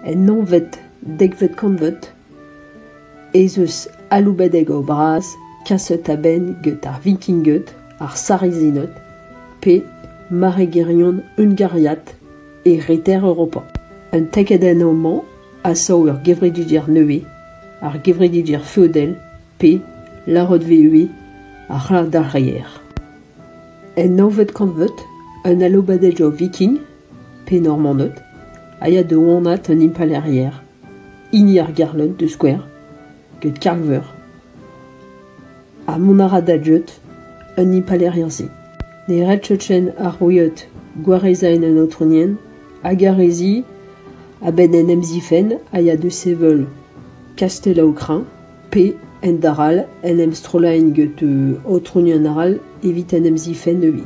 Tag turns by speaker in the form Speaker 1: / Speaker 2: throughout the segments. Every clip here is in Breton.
Speaker 1: En nonved dekvet kantved ez eus aloubadeg o bras kaset a-benn get ar Vikinged, ar Sarizined pe maregerion hungariat e reter Europa. Un tekadenn homañ a sav ur gevreduder nevez, ar gevreduder feodel pe larrotveüe a c'hall d'ar reier. En nonved kantved, un aloubadeg o Viking pe Normaned, a ya da wanaat an impalaeriezh, hini ar Garlot da skouer, get Karl-Veur. Ha mont a ra da dleud an impalaeriezh-se. Ne red Chechen ar Roueed gwarezañ an aotronienn hag ar re-se, a-benn en em zifenn, a ya da sevel Kastell-au-Crin, pe, ent-arall, en em strollaen get aotrounion arall evit en em zifenn euit.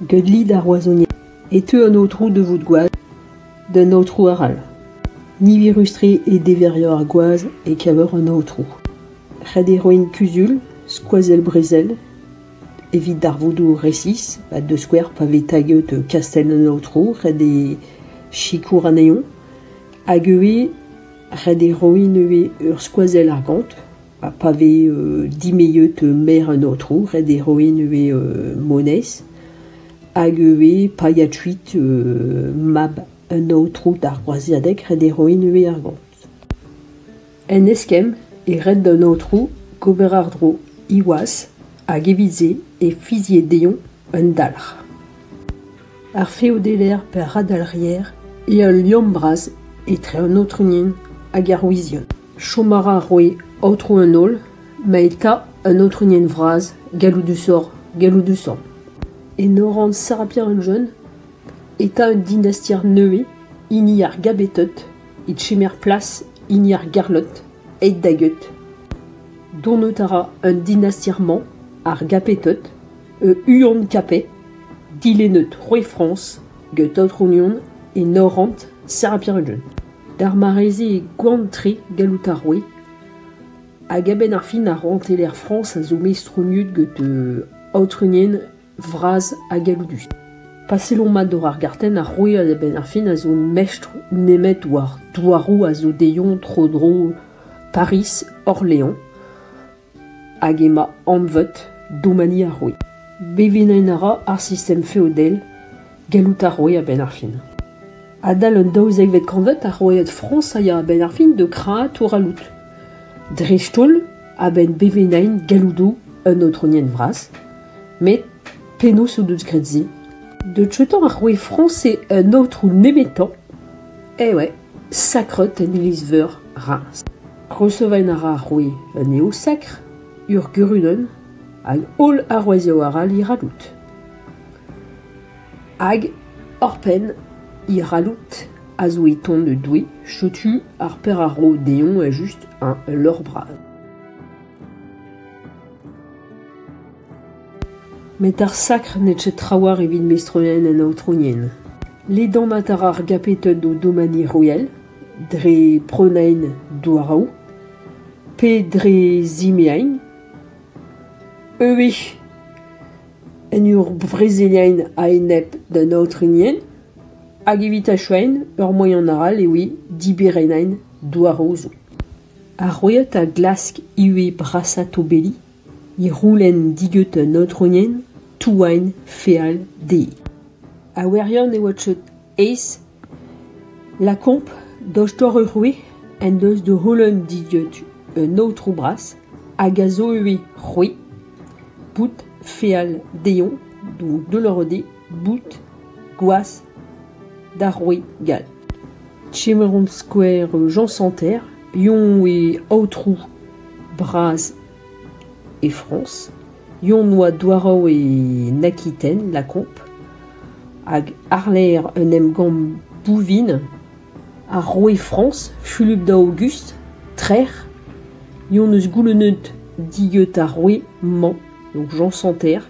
Speaker 1: Get lid ar Roazhoniezh e teu an aotrou da vout gwaz d'un aotrou arall. Niverus-tre eo deveriour ar gwaz e-keñver an aotrou. Ret eo roiñ kuzul, skoazell-brezel, evit darvoudoù resis, ha da skouer pa vez taget kastell an aotrou, ret eo sikour anezhañ hag ivez Ret eo roiñ neuze ur skoazell argant ha pa vez dimezet merc'h un aotrou ret eo roiñ neuze moneiz hag ivez paeañ kuit mab un aotrou d'ar groaziadeg ret eo roiñ neuze argant. En eskemm e ret d'an aotrou gober àr-dro he waz hag evit se e fizier dezhoñ Un dalc'h. Ar feodeller pe ar radalc'hier eo al liamm bras etre an aotrounien hag ar wizion. Chom a ra roue aotrou an holl, ma eta un aotrounien vras galloudusoc'h galloudusañ. Enoran Sarabia-an-Jeun eta un dinastier nevez, hini ar Gabeted, e chemer plas hini ar Garlot aet da geut. Dont out a ra an dinastier-mañ, ar Gapeted, E Huon-Capet, dilennet Roy-France get aotronion e Norant, Serbia-Unan. D'ar mare-se e goan-tre gallout a roe hag a-benn ar fin ar rouantelezh Frañs a zo mestroniet get aotrenien vras ha galloudus. Pa sellomp mat war ar gartenn, ar roue a-benn ar fin a zo mestr nemet war douaroù a zo dezhañ tro-dro Pariz, Orléans. Hag emañ anvet domani ar roue. Bevinañ a ra ar sistem feodel gallout ar roue a-benn ar fin. Adal an daouzekvet kantved, ar roueed Frañs a ya a-benn ar fin da krañ touralout, dreist-holl a-benn bevennañ galloudoù un aotronienn vras. Met penaos o deus graet se? Deut-tañ ar roue Frañs eo un aotrou nemetañ. Eh ouais. Sakret en iliz-veur Reims. Reseven a ra ar roue un eoul sakr, ur gurunenn hag holl arouezioù arall he c'halloud. Hag oc'hpenn he c'halloud a zo e ton un doue, setu ar per a ro dezhoñ evel-just ul lorc'h bras. Met ar sakr n'eo ket trawalc'h evit meistrourien an aotrounien. Ledanat a ra ar Gapeted o domani royal dre prenaén douaraoù pe dre zimeañ ivez en ur vrezeliañ a-enep d'an aotrounien hag evit achuaén ur moaien arall eo diberennaén douaraoù zo. Ar royata a glask ivez brasañ tobelli. e c'houlenn digeut un aotrounenn touagn feal dezhi. A wirion e oa cheut aes lakaomp dost-dor ur roue en deus da c'houlenn digeut un aotrou bras hag a zo ivez c'hwi bout feal dezhoñ, donc de le rede boud, gwazh, d'ar roue gall. Kemeront skouer Jean Santerre, yon e aotrou bras e Frañs, yon oa douarav e Nakiten, Lacombe, hag àrlerc'h un emgann Bouvines, ar roue Frañs, Fulup da Aogust, trec'h, yon eus goulennet dieut ar roue-mañ, donc Jean Santerre,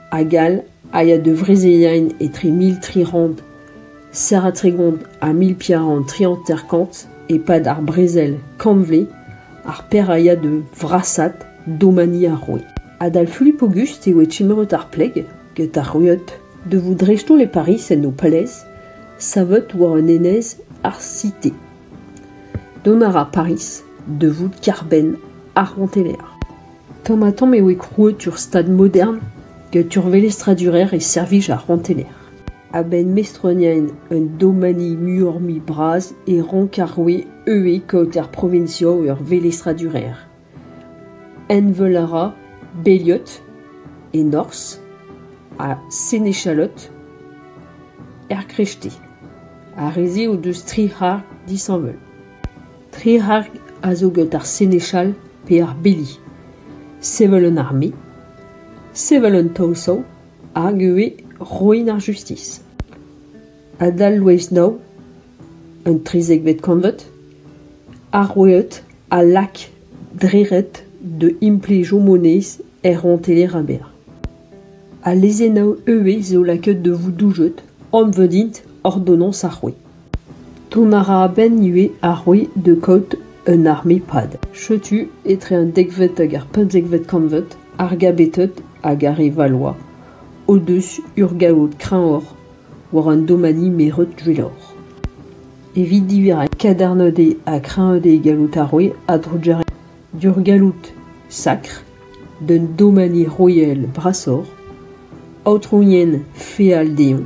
Speaker 1: hag all a ya da vrezeliaén etre mil tri c'hant serr ha tregont ha mil piar c'hant tri hanter-kant e-pad ar brezel kantved ar Pêr a ya da vrasaat domani ar roue. Adal Fulip Aogust eo e timeret ar pleg get ar rueud da vout dreist-holl e Pariz en ho palez savet war un enez ar Cité. Dont a ra Pariz da vout kêr-benn ar rouantelezh. Tamm-ha-tamm eo krouet ur stad modern gant ur velestradurezh e servij ar c'hontener. A-benn mestroniañ un domani muioc'h-mui bras e rank ar roue eeuiñ kaout er proviñsoù ur velestradurezh. Envel a ra Beliot e norzh ha Seine-et-Chalotte er Creveté. Ar re-se o deus tri c'harr disheñvel. Tri c'harg a zo get ar senechal pe ar beli, sevel un arme, sevel un taosav hag ivez roiñ ar justis. Adal lwez nav, un trizekvet kantved, ar roueed a lak dre-ret da implijoù moneiz er rouantelezh Reims. Al lezennaoù ivez zo lakaet da vout doujet, anvet int ordonnances ar roue. Dont a ra a-benn ivez ar roue de kaout un arme-pad. Setu, etre an dekvet hag ar pemzekvet kantved, ar Gabeted hag ar re Valois o-deus urgaout kreñvoc'h war an domani meret Gwilor. Evit divizañ kadarnded ha kreñvded galloud ar roue a-drugarez d'ur galloud sakr d'un domani royal brasoc'h, aotrouien feal dezhoñ.